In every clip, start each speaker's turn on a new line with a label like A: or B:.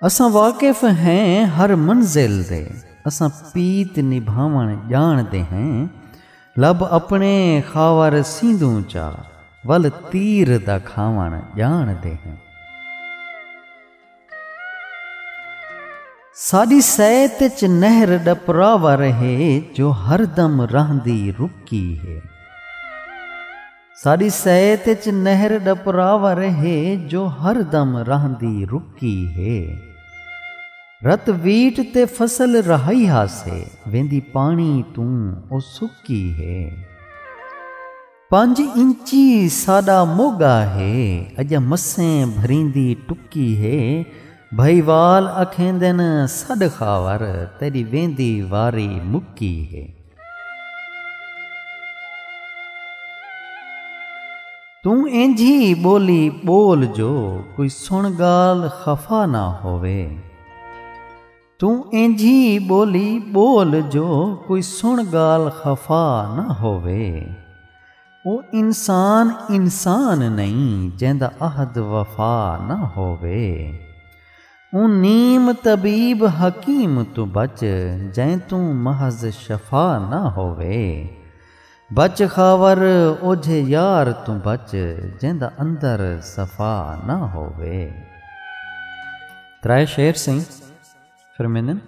A: اساں واقف ہیں ہر منزل دے۔ اساں پیت نبھاوݨ ڄاݨ دے ہیں۔ لب اپݨے خاور سیندوں چا ول تیر دا کھاوݨ ڄاݨ دے ہیں۔ ساݙی سیت اچ نہر ݙپراور ہے جو ہر دم رہندی رکی ہے۔ ساݙی سیت اچ نہر ݙپراور ہے جو ہر دم رہندی رکی ہے۔ رت ویٹ تے فصل رہائی ہاسے ویندی پاݨی توں او سکی ہے۔ پنج انچی ساݙا موڳا ہے اڄاں مسیں بھریندی ٹکی ہے۔ بھئیوال اکھیندن سݙ خاور تیݙی ویندی واری مکی ہے۔ توں اینجھی ٻولی ٻول جو کوئی سݨ ڳال خفا نہ ہووے توں اینجھی ٻولی ٻول جو کوئی سݨ ڳال خفا نہ ہووے او انسان انسان نئیں جیندا عہد وفا نہ ہووے اوں نیم طبیب حکیم توں بچ جئیں توں محض شفا نہ ہووے۔ بچ خاور اوجھے یار توں بچ جیندا اندر صفا نہ ہووے۔ ترائے شعر سئیں فرمیندن۔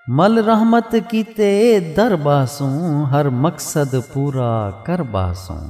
A: مل رحمت کیتے در ٻہسوں ہر مقصد پورا کر ٻہسوں۔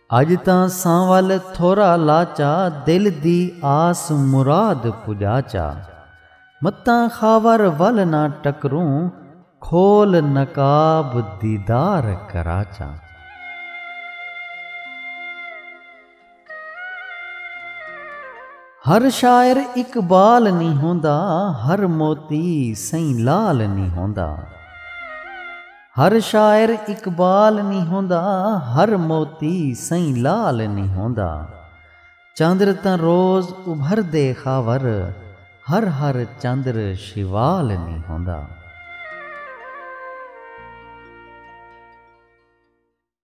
A: اڄ تاں ساں ول تھورا لاچا دل دی آس مراد پڄاچا متاں خاور ول نہ ٹکروں کھول نقاب دیدار کراچا۔ ہر شاعر اقبال نی ہوندا ہر موتی سئیں لال نی ہوندا۔ ہر شاعر اقبال نی ہوندا ہر موتی سئیں لال نی ہوندا چندر تاں روز ابھردے خاور ہر ہر چندر شیوال نی ہوندا۔